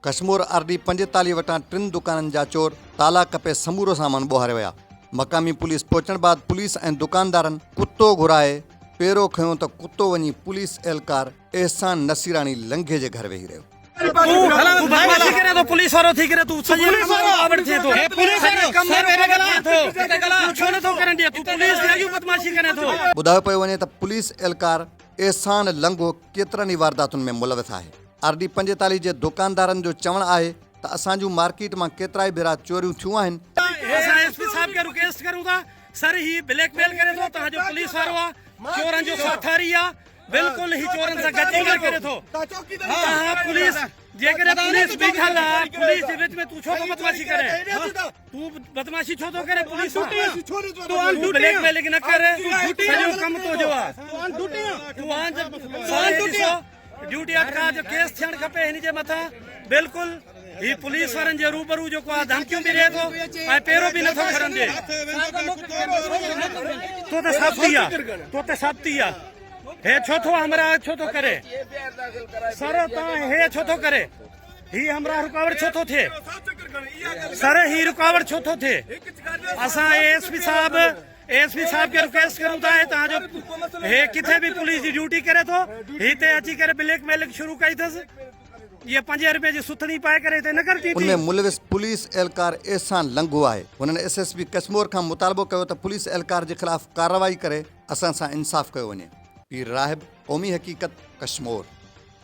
Kashmore R D پنجيتاليهه وٽان ٽن دڪانن جا چور تالا ڪپي سمورو سامان ٻوهاري ويا، مقامي پوليس پهچڻ بعد پوليس ۽ دڪاندارن ڪتو گهرائي پيرو کنيو ته ڪتو وڃي پوليس اهلڪار احسان نصيراڻي لنگهي جي گهر ويهي رهيو. ٻڌايو پيو وڃي ته پوليس اهلڪار احسان لنگهو ڪيترن ئي وارداتن ۾ ملوث آهي. آر ڊي پنجيتاليھ جي دوڪاندارن جو چوڻ آهي ته اسان جون مارڪيٽ مان ڪيترائي ڀيرا چوريون ٿيون آهن، اسان ايس پي صاحب کي رڪيسٽ ڪريون ٿا سر هي بليڪ ميل ڪري ٿو توهان جو پوليس وارو آ چورن جو ساٿاري آ بلڪل هي چورن سان گڏجي ڪم ڪري ٿو توهان پوليس جيڪڏهن پوليس بيٺل آ پوليس جي وچ ۾ تون ڇو ٿو بدمعاشي ڪرين تون بدمعاشي ڇو ٿو ڪرين پوليس سان تون بليڪ ميلنگ نه ڪر سڄو ڪم تنهنجو آ توهان جو ساري ڏسو ڊيوٽي اٽڪاء جو ڪيس ٿيڻ کپي هن جي مٿان بلڪل هي پوليس وارن جي روبرو جيڪو آ ڌمڪيون به ڏي ٿو ۽ پيرو به نٿو کڻن ڏي تو ته سبتي آ تو ته سبتي آ هي ڇو ٿو همراهه ڇو ٿو ڪري سر تان هي ڇو ٿو ڪري هي همراهه رڪاوٽ ڇو ٿو ٿئي سر هي رڪاوٽ ڇو ٿو ٿئي اسان اي ايس پي صاحب اي ايس پي صاحب کي رڪويسٽ ڪريون ٿا هتان جو هي ڪٿي به پوليس جي ڊيوٽي ڪري ٿو هتي اچي ڪري بليڪ ميلنگ شروع ڪئي اٿس یہ پنجين روپين جي سٿڻي پائي ڪري هتي نه ڪرتي ان ۾ ملوث پوليس اهلڪار احسان لنگهو آهي هن ايس ايس پي ڪشمور کان مطالبو ڪيو ته پوليس اهلڪار جي خلاف ڪارروائي ڪري اسان سان انصاف ڪيو وڃي. پير راهب قومي حقيقت ڪشمور.